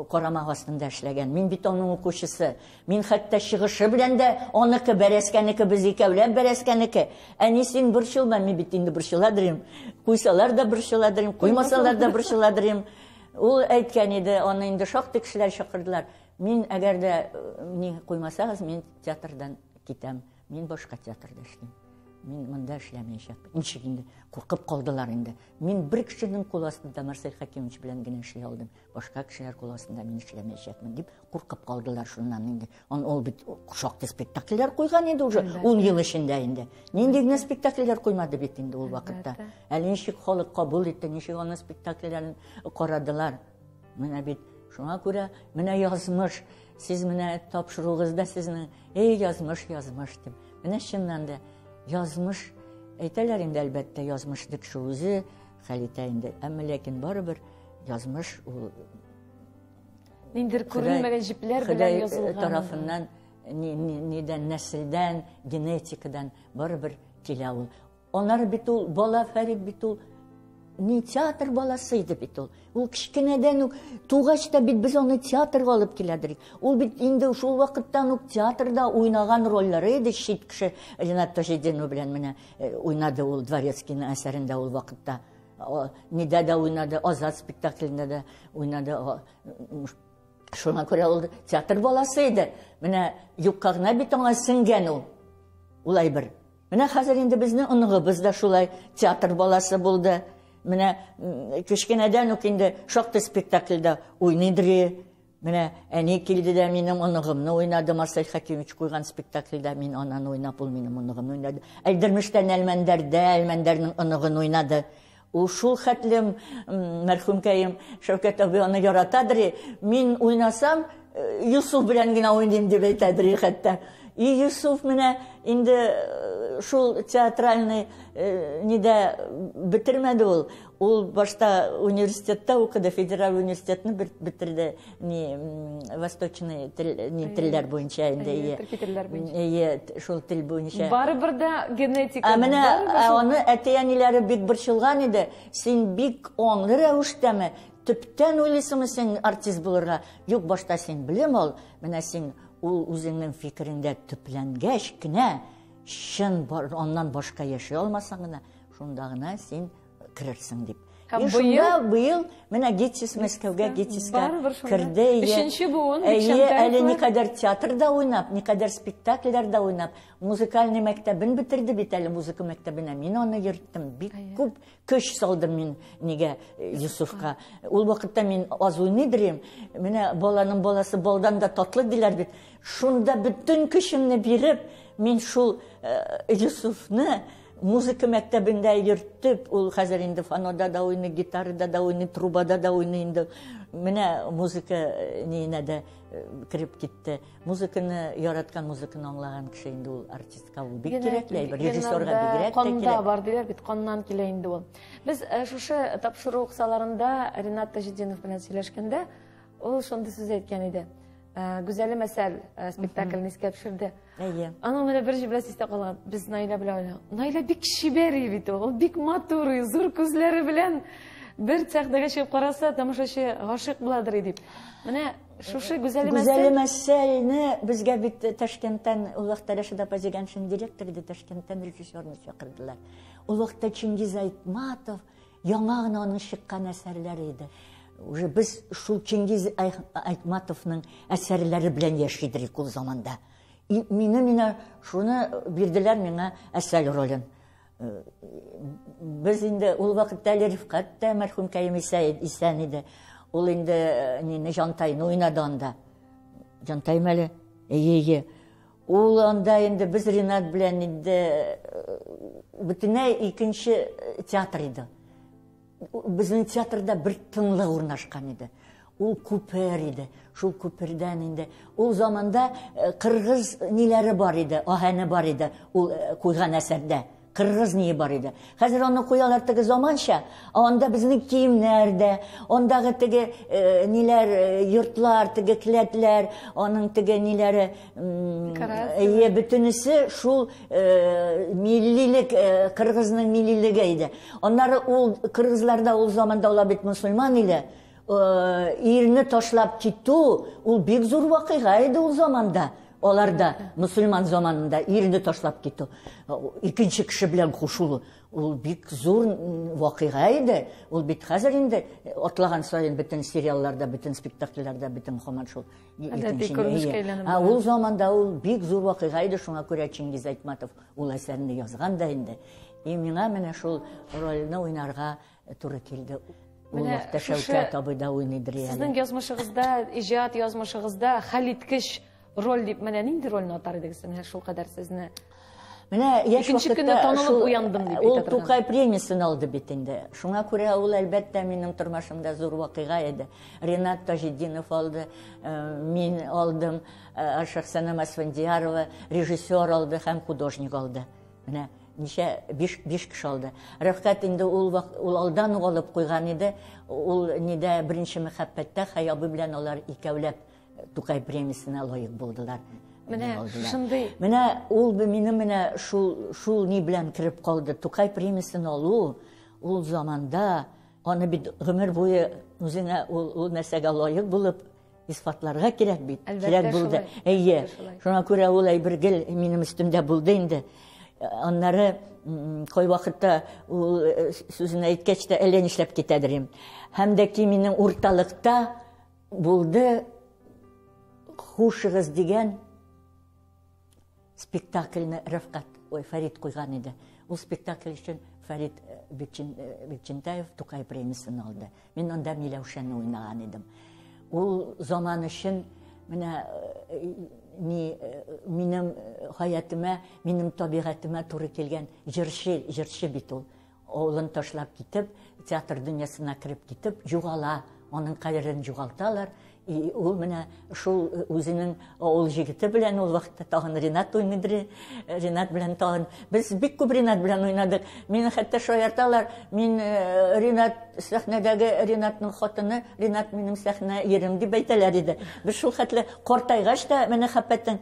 карамак астында эшләгән. Мин бит аның укучысы. Мин хәтта чыгышы белән дә аныкы бәрәскәнеке, без икәүләп бәрәскәнеке. Әни, син борчылма, мин бит инде борчыладырым. Куйсалар да борчыладырым, куймасалар да борчыладырым. Ул әйткән иде, аны инде шактый кешеләр чакырдылар. Мин әгәр дә ни куймасагыз, мин театрдан китәм. Мин башка театрда эшлим. Мин монда эшләмәячәк. Ничек инде? Куркып калдылар инде. Мин бер кешенең кул астында Марсель Хәкимович белән генә эшли алдым. Башка кешеләр кул астында мин эшләмәячәкмен дип куркып калдылар шуннан инде. Он ул бит шактый спектакльләр куйган инде уже ул ел эчендә инде. Нинди генә спектакльләр куймады бит инде ул вакытта. Әле ничек халык кабул итте, ничек аны спектакльләрен карадылар. Менә бит шуңа күрә менә язмыш, сез менә тапшыруыгызда сезнең эй язмыш, язмыш дип. Менә чыннан да язмыш әйтәләр инде әлбәттә язмыш дип шул үзе хәл итә инде. Әмма ләкин барыбер язмыш ул ниндидер күренмәгән җепләр белән язылган. Э, тарафыннан нидән нәселдән, генетикадан барыбер килә ул. Анар бит ул, бала Фәрит бит ул, не театр баласы иде бит ул. Ул кечкенәдән үк тугач та бит без аны театрга алып киләдерик. Ул бит инде шул вакыттан ук театрда уйнаган рольләре иде чит кеше Ренат Таҗетдинов белән менә э, уйнады ул Дворецкийның әсәрендә ул вакытта. Нидә дә уйнады, Азат спектаклендә дә уйнады. Шуңа күрә ул театр баласы иде. Менә юкка гына бит аңа сеңгән ул. Улай бер Менә хәзер инде безнең оныгыбыз да шулай театр баласы булды. Менә кечкенәдән үк инде шактый спектакльдә уйныйдыр. Менә әни килде дә минем оныгымны уйнады, Марсель Хәкимович куйган спектакльдә мин ананы уйнап, ул минем оныгымны уйнады. Әлдермештән Әлмәндәрдә, Әлмәндәрнең оныгын уйнады. Ул шул хәтле мәрхүмкәем Шәүкәт абый аны яратадыр, мин уйнасам, Юсуф белән генә уйныйм дип әйтәдер хәтта. И Юсуф менә инде э, шул театральный э, нидә бетермәде ул. Ул башта университетта укыды, федераль университетны бетерде. не восточный тел не телләр буенча инде ие төрки телләр буенча ие шул тел буенча барыбер дә генетика ә менә аны әти әниләре бик борчылган иде син бик аңлы рәвештәме төптән уйлыйсыңмы син артист булырга юк башта син белем ал менә син ул үзеңнең фикереңдә төпләнгәч кенә чын аннан башка яши алмасаң гына шунда гына син керерсең дип. Һәм шунда быел менә Гетис Мәскәүгә Гетискә керде. Өченче буын әле никадәр театрда уйнап, никадәр спектакльләрдә уйнап, музыкальный мәктәбен бетерде бит әле музыка мәктәбенә. Мин аны йөрттем. Бик күп көч салдым мин нигә э, Юсуфка. Ул вакытта мин аз уйный беләм. Менә баланың баласы балдан да татлы диләр бит. Шунда бөтен көчемне биреп, мин шул э, Юсуфны Музыка мәктәбендә йөртеп, ул хәзер инде фанода да уйный, гитарада да уйный, трубада да уйный инде. Менә музыка э, ниенә дә э, кереп китте. Музыканы яраткан музыканы аңлаган кеше инде ул артистка ул бик кирәкле әйбер, режиссерга бигрәк тә кирәк. Канда бар диләр бит, каннан килә инде ул. Без э, шушы тапшыру кысаларында Ренат Таҗетдинов белән сөйләшкәндә, ул шундый сүз әйткән иде. Э, гүзәлем әсәл э, спектакльне искә төшерде әйе аның менә бер җөмләсе истә калган без наилә белән уйнадык наилә бик чибәр бит ул бик матур зур күзләре белән бер сәхнәгә чыгып караса тамашачы гашыйк буладыр дип менә шушы гүзәлем әсәл гүзәлем әсәлне безгә бит ташкенттан олуг тәрәшәдә апа дигән шин директор иде ташкенттан режиссерны чакырдылар олуг чингиз айтматов Яңа гына аның чыккан әсәрләре иде. Уже без шул Чингиз Айтматовның әсәрләре белән яши идек ул заманда. И мине менә шуны бирделәр миңа әсәл ролен. Э, без инде ул вакытта әле Рифкат та мәрхүм Кәем исән иде. Ул инде э, нине Жантайны уйнады анда. Жантаймәле. Әйе, әйе. Ул анда инде без Ринат белән инде бөтенләй икенче театр иде. Безнең театрда бер тынлык урнашкан иде. Ул күпер иде. Шул күпердән инде ул заманда кыргыз ниләре бар иде, аһәне бар иде ул куйган әсәрдә. Кыргыз ние бар иде. Хәзер аны куялар теге заманча, а анда безнең киемнәр дә, андагы теге э, ниләр, э, йортлар, теге келәтләр, аның теге ниләре, әйе, бөтенесе шул э, миллилек, э, кыргызның миллилеге иде. Аннары ул кыргызларда ул заманда ала бит мусульман иде. Э, ирне ташлап китү, ул бик зур вакыйга иде ул заманда. Алар да мусульман заманында ирне ташлап китү, икенче кеше белән кушылу, ул бик зур вакыйга иде. Ул бит хәзер инде атлаган саен бөтен сериалларда, бөтен спектакльләрдә, бөтен хаман шул. Ә ул заманда ул бик зур вакыйга иде, шуңа күрә Чингиз Айтматов ул әсәрне язган да инде. И миңа менә шул рольне уйнарга Туры килде. Ул Менә вакытта шушы- Шәүкәт абый да уйныйдыр әле. Сезнең язмышыгызда, иҗат язмышыгызда хәлиткеч роль дип менә нинди рольне атар идегез менә шул кадәр сезне? Менә яшь Икенче вакытта көнне танылып шул- уяндым дип Ул әйтә торган. Тукай премиясен алды бит инде. Шуңа күрә ул әлбәттә минем тормышымда зур вакыйга иде. Ренат Таҗетдинов алды, э, мин алдым, э, Шәхсәнә Масфендиярова режиссер алды һәм художник алды. Менә ничә биш биш кеше алды. Рәфкать инде ул ул алдан ук алып куйган иде. Ул нидә беренче мәхәббәттә Хәй абый белән алар икәүләп Тукай премиясенә лаек булдылар. Менә шундый. Менә ул мине менә шул шул ни белән кереп калды. Тукай премиясен алу ул заманда аны бит гомер буе үзеңә ул ул нәрсәгә лаек булып Исфатларга кирәк бит. Кирәк булды. Әйе. Шуңа күрә ул әйбер гел минем өстемдә булды инде. Аннары кой вакытта ул э, сүзен әйткәч тә әллә нишләп китәдер инде. Һәм дә ки минем урталыкта булды хушыгыз дигән Спектакльне Рәфкать, ой, Фәрит куйган иде. Ул спектакль өчен Фәрит э, э, Бекчентаев Тукай премиясын алды. Мин анда Миләүшәне уйнаган идем. Ул заман өчен менә э, ни минем хаятыма, минем табигатыма туры килгән җырчы, җырчы бит ул. Авылын ташлап китеп, театр дөньясына кереп китеп, югала, аның кадерен югалталар. И ул менә шул э, үзенең авыл җегете белән ул вакытта тагын Ренат уйныйдыр. Э, Ренат белән тагын без бик күп Ренат белән уйнадык. Мине хәтта шаярталар. Мин э, Ренат сәхнәдәге Ренатның хатыны, Ренат минем сәхнә ерем дип әйтәләр иде. Без шул хәтле картайгач та мәхәббәтең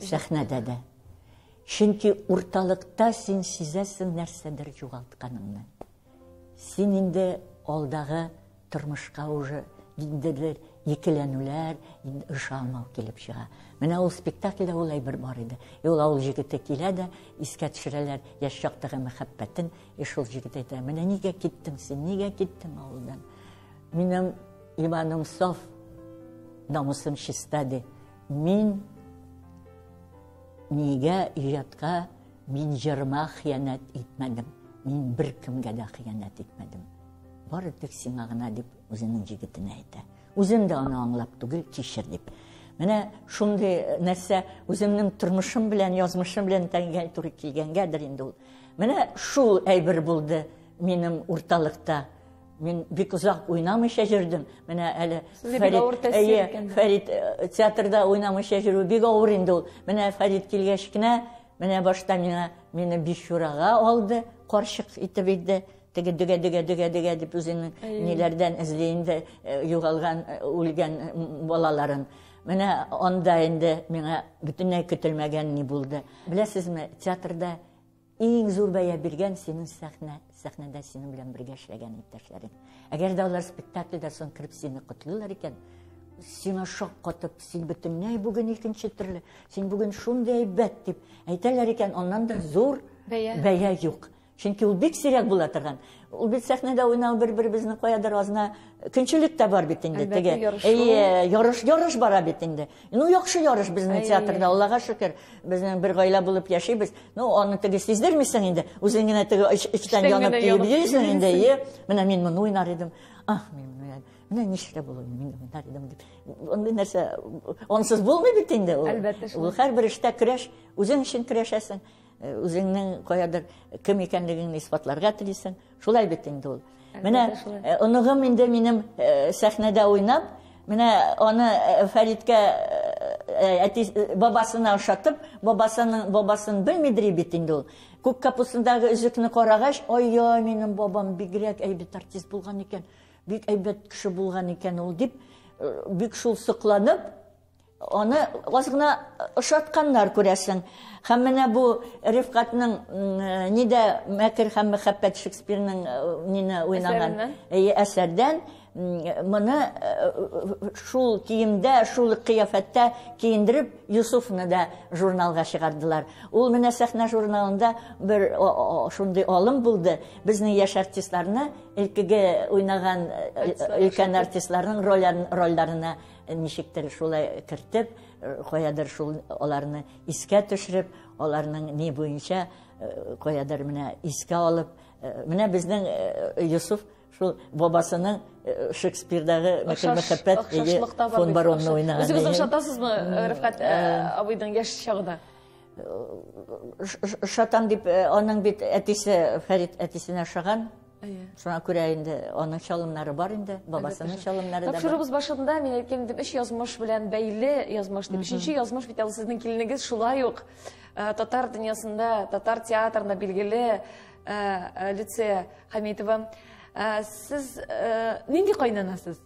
Сәхнәдә дә. Чөнки урталыкта син сизәсең нәрсәдер югалтканыңны. Син инде алдагы тормышка уже ниндидер екеләнүләр, ышанмау килеп чыга. Менә ул спектакльдә ул әйбер бар иде. И ул авыл җегете килә дә, искә төшерәләр яшь чактагы мәхәббәтен. И шул җегет әйтә, менә нигә киттең син, нигә киттең авылдан? Минем иманым саф, намусым чиста, ди. Мин нигә иҗатка мин җырыма хыянәт итмәдем. Мин бер кемгә дә хыянәт итмәдем. Бары тик сиңа гына дип үзенең җигетенә әйтә. Үзем дә аны аңлап түгел, кичер дип. Менә шундый э, нәрсә үземнең тормышым белән, язмышым белән тәңгә туры килгәнгәдер инде ул. Менә шул әйбер булды минем урталыкта Мин бик озак уйнамыйча җөрдем. Менә әле Фәрит э, театрда уйнамыйча җөрү бик авыр инде ул. Менә Фәрит килгәч кенә, менә башта миңа мине бишурага алды, карчык итеп иде. Теге дөгә дөгә дөгә дөгә дип үзенең ниләрдән эзли инде э, югалган, э, үлгән балаларын. Менә анда инде миңа бөтенләй көтелмәгән ни булды. Беләсезме, театрда Иң зур бәя биргән синең сәхнә, сәхнәдә синең белән бергә эшләгән иптәшләрең. Әгәр дә алар спектакльдә соң кереп сине котлыйлар икән, сиңа шаккатып, син бөтенләй бүген икенче төрле, син бүген шундый әйбәт дип әйтәләр икән, аннан да зур бәя, бәя юк. Чөнки ул бик сирәк була торган. Ул бит сәхнәдә уйнау бер-беребезне каядыр азна көнчелек тә бар бит инде теге. Әйе, ярыш, ярыш бара бит инде. Ну яхшы ярыш безнең театрда, Аллага шөкер, безнең бер гаилә булып яшибез. Ну аны теге сиздермисең инде, үзең генә теге эчтән янып килеп йөрисең инде, әйе. Менә мин моны уйнар идем. Ах, мин моны менә ничек булуы мин уйнар идем дип. Андый нәрсә ансыз булмый бит инде ул. Әлбәттә. Ул һәрбер эштә көрәш, үзең өчен көрәшәсең. Үзеңнең каядыр кем икәнлегеңне исбатларга телисең. Шулай бит инде ул. Менә оныгым инде минем сәхнәдә уйнап, менә аны Фәриткә әти бабасына ошатып, бабасының бабасын белмидри бит инде ул. Күк капустындагы өзекне карагач, ай-ай, минем бабам бигрәк әйбәт артист булган икән, бик әйбәт кеше булган икән ул дип, бик шул сокланып, Аны аз гына ошатканнар, күрәсең. Һәм менә бу Рифкатның нидә мәкер һәм мәхәббәт Шекспирның нине уйнаган әсәрдән моны шул киемдә, шул кыяфәттә киендереп Юсуфны да журналга чыгардылар. Ул менә сәхнә журналында бер шундый алым булды. Безнең яшь артистларны илкеге уйнаган өлкән артистларның рольләренә Ничектер шулай кертеп, каядыр шул аларны искә төшереп, аларның ни буенча каядыр менә искә алып, менә безнең Юсуф шул бабасының э, Шекспирдагы Мехел Мехәппәт фон баронны уйнаган. Үзегез ошатасызмы, Рифкат э, э, абыйның яшь чагына? Шатан дип, э, аның бит әтисе, Фәрит әтисенә ошаган. Шуңа күрә инде аның чалымнары бар инде, бабасының чалымнары да бар. Тапшыруыбыз башында мин әйткән идем, өч язмыш белән бәйле язмыш дип. Өченче язмыш бит ул сезнең килнегез шулай ук э, татар дөньясында, татар театрында билгеле э, э, Люция Хамитова. Сез нинди кайнанасыз?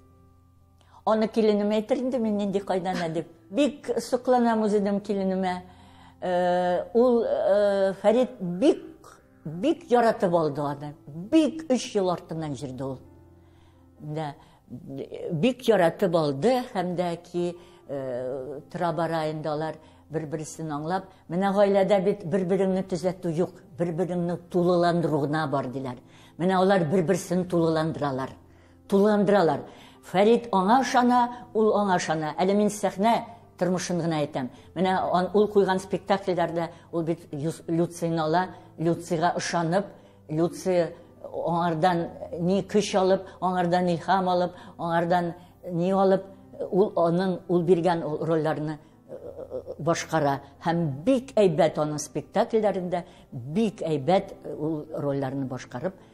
Аны киленем әйтер инде мин нинди кайдана дип. Бик сокланам үзем киленемә. Э, ул э, Фәрид бик бик яратып алды аны. Бик 3 ел артыннан җирде ул. Да, бик яратып алды һәм дә ки э, тора бара инде алар бер-берсен аңлап, менә гаиләдә бит бер-береңне төзәтү юк, бер-береңне тулыландыру гына бар диләр. Менә алар бер-берсен тулыландыралар. Тулыландыралар. Фәрит аңа ышана, ул аңа ышана. Әле мин сәхнә тормышын гына әйтәм. Менә ул куйган спектакльләрдә ул бит Люцийны ала, Люцийга ышанып, Люций аңардан ни көч алып, аңардан илһам алып, аңардан ни алып, ул аның ул биргән рольләрне башкара һәм бик әйбәт аның спектакльләрендә бик әйбәт ул рольләрне башкарып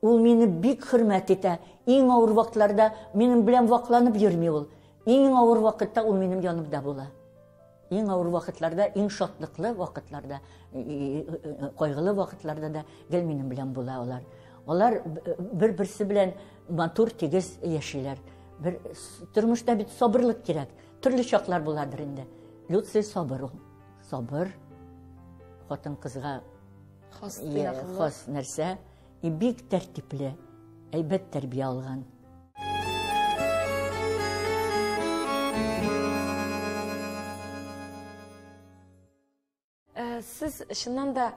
Ул мине бик хөрмәт итә. Иң авыр вакытларда минем белән вакланып йөрми ул. Иң авыр вакытта ул минем янымда була. Иң авыр вакытларда, иң шатлыклы вакытларда, кайгылы вакытларда да гел минем белән була алар. Алар бер-берсе белән матур, тигез яшиләр. Бер тормышта бит сабырлык кирәк. Төрле чаклар буладыр инде. Люци сабыр ул. Сабыр. Хатын кызга хас нәрсә. И бик тәртипле, әйбәт тәрбия алган. Э, сез чыннан да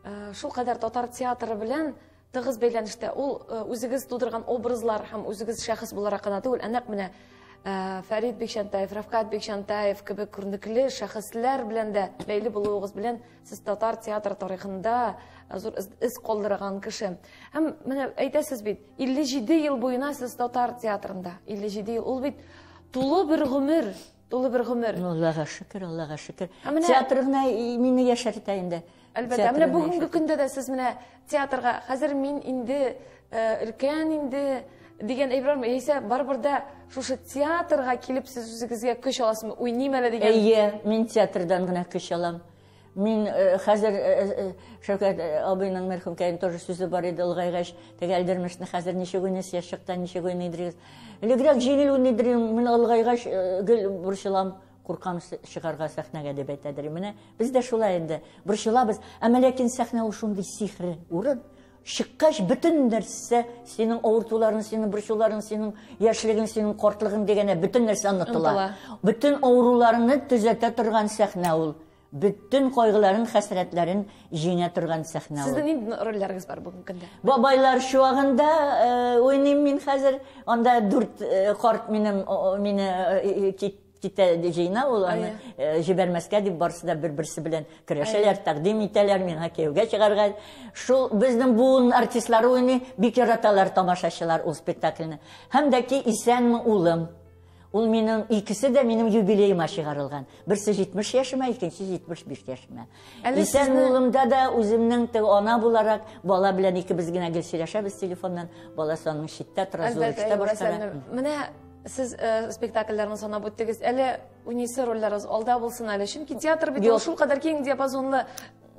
э, шул кадәр татар театры белән тыгыз бәйләнештә ул э, үзегез тудырган образлар һәм үзегез шәхес буларак кына түгел ә нәкъ менә э, фәрит бикчәнтаев рафкат бикчәнтаев кебек күренекле шәхесләр белән дә бәйле булуыгыз белән Сез татар театры тарихында зур эз калдырган кеше. Һәм менә әйтәсез бит, 57 ел буена сез татар театрында. 57 ел ул бит тулы бер гомер, тулы бер гомер. Ну, Аллага шөкер, Аллага шөкер. Театрына мине яшәртә инде. Әлбәттә, менә бүгенге көндә дә сез менә Театрга хәзер мин инде өлкән инде дигән әйберме, яисә барыбер дә шушы театрга килеп сез үзегезгә көч аласызмы? Уйныйм әле дигән. Әйе, мин театрдан гына көч алам. Мин э, хәзер э, э, Шәүкәт абыйның мәрхүмкәен тоже сүзе бар иде олыгайгач, теге Әлдермешне хәзер ничек уйныйсыз, яшьчыкта ничек уйныйдыгыз. Элегрәк җиңел уйныйдым, мин олыгайгач гел борчылам. Куркам чыгарга сәхнәгә дип әйтәдер. Менә без дә шулай инде борчылабыз. Әмма ләкин сәхнә ул шундый сихри урын. Чыккач бөтен нәрсә, синең авыртуларың, синең борчуларың, синең яшьлегең, синең картлыгың дигәнә бөтен нәрсә онытыла. Бөтен авыруларыңны төзәтә торган сәхнә ул. Бөтен кайгыларын, хәсрәтләрен җиңә торган сәхнә ул. Сезнең нинди рольләрегез бар бүгенге көндә? Бабайлар чуагында уйныйм мин хәзер. Анда дүрт карт минем мине китә җыйна ул аны җибәрмәскә дип барысы да бер-берсе белән көрәшәләр, тәкъдим итәләр миңа кияүгә чыгарга. Шул безнең буын артистлары уйный, бик яраталар тамашачылар ул спектакльне. Һәм дә ки Исәнме, улым! Ул минем икесе дә минем юбилеема чыгарылган. Берсе 70 яшемә, икенче 75 яшемә. Исән улымда да үземнең тег ана буларак бала белән икебез генә гел сөйләшәбез телефоннан. Бала саның читтә тора, зурыкта башкара. Менә сез э, спектакльләрне санап үттегез. Әле унисе рольләрегез алда булсын әле. Чөнки театр бит ул шулкадәр киң диапазонлы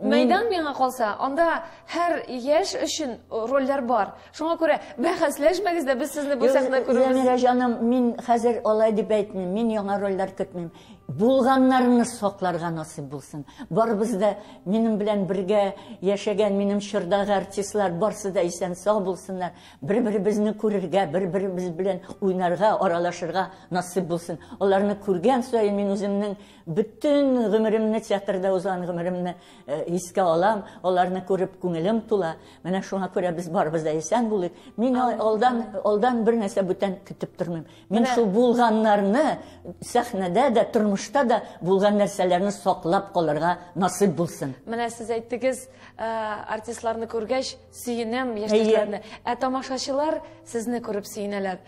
Мәйдан миңа калса, анда һәр яшь өчен рольләр бар. Шуңа күрә бәхәсләшмәгез дә, без сезне бу сәхнә күрүбез. Зәмирә җаным, мин хәзер алай дип әйтмим. Мин яңа рольләр көтмим. Булганнарны сакларга насыйп булсын. Барыбыз да минем белән бергә яшәгән минем чордагы артистлар барсы да исән сау булсыннар. Бер-беребезне күрергә, бер-беребез белән уйнарга, аралашырга насыйп булсын. Аларны күргән саен мин үземнең Бөтен гомеремне, театрда узган гомеремне э, искә алам, аларны күреп күңелем тула. Менә шуңа күрә без барыбыз да исән булыйк. Мин алдан, алдан бер нәрсә бүтән көтеп тормыйм. Мин шул булганнарны сәхнәдә дә, тормышта да булган нәрсәләрне саклап калырга насыйп булсын. Менә сез әйттегез, э, артистларны күргәч, сөенәм яшьтәшләрне. Ә тамашачылар сезне күреп сөенәләр.